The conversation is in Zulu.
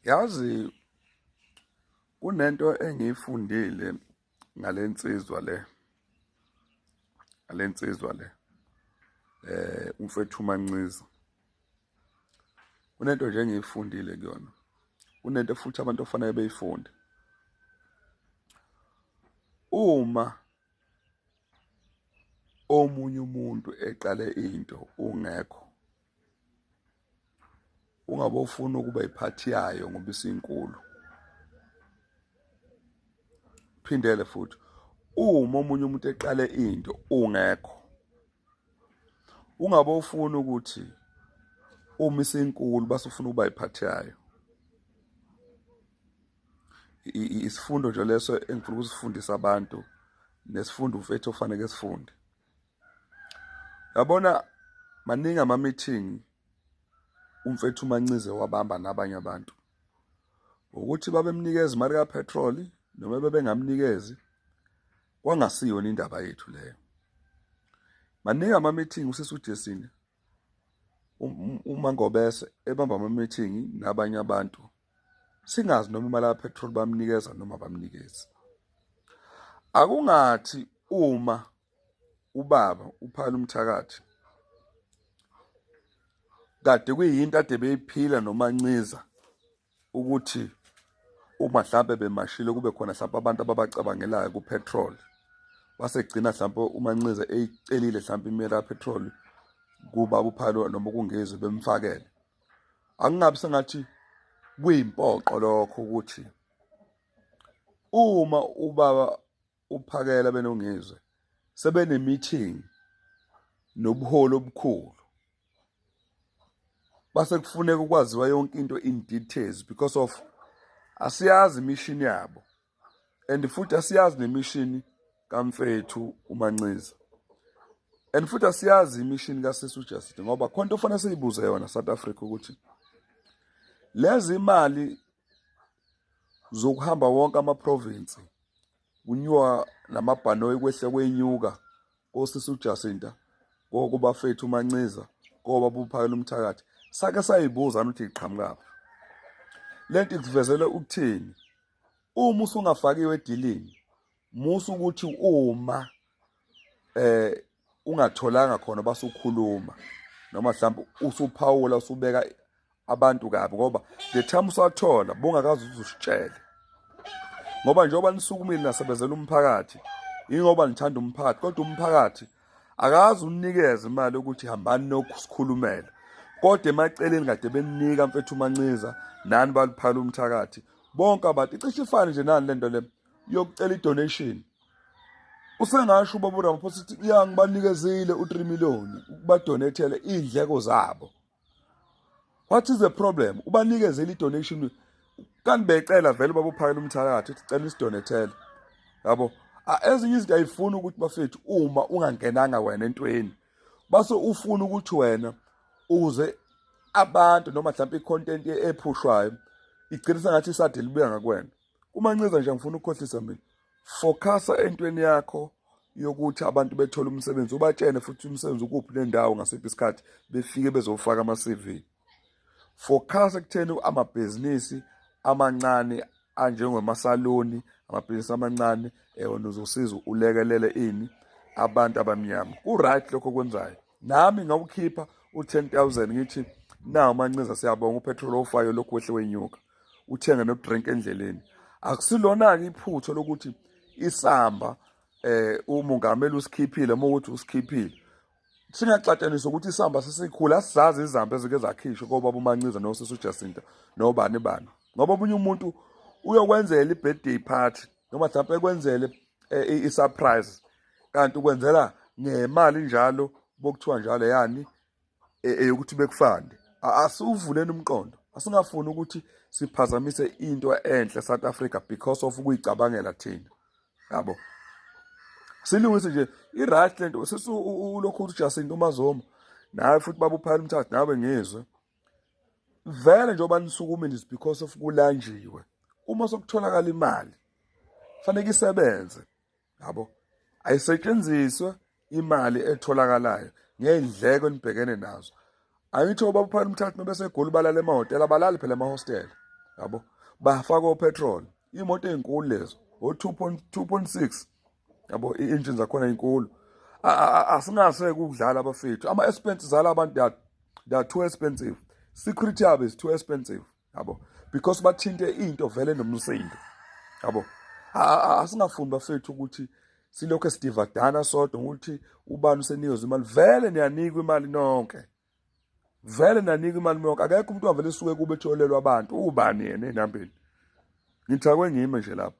yazi kunento engiyifundile ngalensizwa le ngalensizwa le eh umfethu uManciza kunento nje engiyifundile kuyona kunento futhi abantu ofanele beyifunde uma omunye umuntu eqale into ungekho ungabe ufuna ukuba iphathi yayo ngoba isinkulu phindele futhi uma omunye umuntu eqale into ungekho ungabe ufuna ukuthi uma isinkulu base ufuna ukuba iphathi yayo isifundo nje leso engifuna ukusifundisa abantu nesifundo mfethu ofanele sifunde yabona maningi ama meeting umfethu umancize wabamba nabanye abantu ukuthi babemnikeza imali ka petrol noma bebengamnikezi kwangasiyona indaba yethu leyo maningi ama meeting usisi uJesini um, uma ngobese ebamba ama meeting nabanye abantu singazi noma imali ka petrol bamnikeza noma bamnikezi akungathi uma ubaba uphala umthakathi kade kuyinto ade beyiphila nomanciza ukuthi uma mhlampe bemashile kube khona mhlampe abantu ababacabangelayo kupetrol wasegcina mhlampe umanxiza eyicelile mhlampe imela kapetrol kuba uphalo noma kungezwe bemfakele angingabi sengathi kuyimpoqo lokho ukuthi uma ubaba uPhakela benongizwe sebene meeting nobuholi obukhulu base kufuneka ukwaziwa yonke into in details because of asiyazi imishini yabo and futhi asiyazi nemishini kamfethu umanxiza and futhi asiyazi imishini kasisi uJustin ngoba khona into ofanele siyibuze yona South Africa ukuthi lezi imali zokuhamba wonke ama province kunywa namabhanoyi kwehle kwenyuka kosisi uJacinta kokubafethu uManciza koba buphakela umthakathi sake sayibuza ukuthi iqhamukaphi lento ikuvezele ukuthini uma usungafakiwe edilini musa ukuthi uma eh ungatholanga khona basukhuluma noma mhlawumbe usuphawula usubeka abantu kabi ngoba the time usathola bungakazi uzusitshele ngoba njengoba nisukumile nasebenzela umphakathi ingoba nithanda umphakathi kodwa umphakathi akazi unikeza imali ukuthi hambani nokusikhulumela kodwa emaceleni kade beninika mfethu umancinza nani baluphala umthakathi bonke abantu icishe ifane nje nani lento le yokucela idonation usengasho ubaba uramaphosa ukuthi ya ngibanikezile u-3 million ukubadonethele iy'ndleko zabo what is the problem ubanikezele i-donation kanti becela vele ubaba uphakela umthakathi ukuthi cela isidonethele yabo ezinye izinto ayifuni ukuthi bafethu uma ungangenanga wena entweni base ufuna ukuthi wena uze abantu noma mhlawumbe i-content ephushwayo igcina sengathi isade libuya ngakwena Kumanceza nje ngifuna ukukhohlisa mina. Focasa entweni yakho yokuthi abantu bethole umsebenzi ubatshene futhi umsebenzi ukuphi nendawo ngasiphi isikhathi befike bezofaka ama CV. Focasa kutheni amabhizinisi amancane anjengemasaloni amabhizinisi amancane ewona uzosiza ulekelele ini abantu abamnyama ku-right lokho okwenzayo nami ngawukhipha u-10 000 ngithi nawu mancinza siyabonga upetrol ofayo lokhu wehle wenyuka uthenge nodrink endleleni akusilona-ke iphutho lokuthi isamba eh umongameli usikhiphile uma ukuthi usikhiphile singaxatshaniswa ukuthi isamba sesikhulu asizazi izamba ezike zakhishwa kobaba umanciza nosisi ujacinta nobani bani ngoba omunye umuntu uyokwenzela i-birthday party noma mhlawumpe ekwenzele eh, i-surprise kanti ukwenzela ngemali njalo bokuthiwa njalo yani e, eyokuthi bekufande asuvuleni umqondo asingafuni ukuthi siphazamise into enhle South Africa because of ukuyicabangela thina yabo silungise nje i right lento sisu ulokhu uthi Jacinto Mazoma nawe futhi babuphayela umthatha nawe ngizwe vele njengoba nisukumile is because of kulanjiwe uma sokutholakala imali fanele isebenze yabo ayisetshenziswe imali etholakalayo ngey'ndleko enibhekene nazo angithi obabuphana umthathu mebesegoli balala emahhotela abalali phela emahostela yabo bafaka opetrol iy'moto ey'nkulu lezo o-two point two point six yabo i-engine zakhona inkulu asingase kudlala abafethu ama-expenses ala abantu they are too expensive security yabo is too expensive yabo because bathinte into vele nomsindo yabo asingafuni bafethu ukuthi silokho esidivadana sodwa ukuthi ubani useniyoza imali vele niyanikwa imali nonke vele nanikwa imali nonke akekho umuntu wavele suke kube etholelwa abantu ubani yena enambeni ngithakwe ngime nje lapho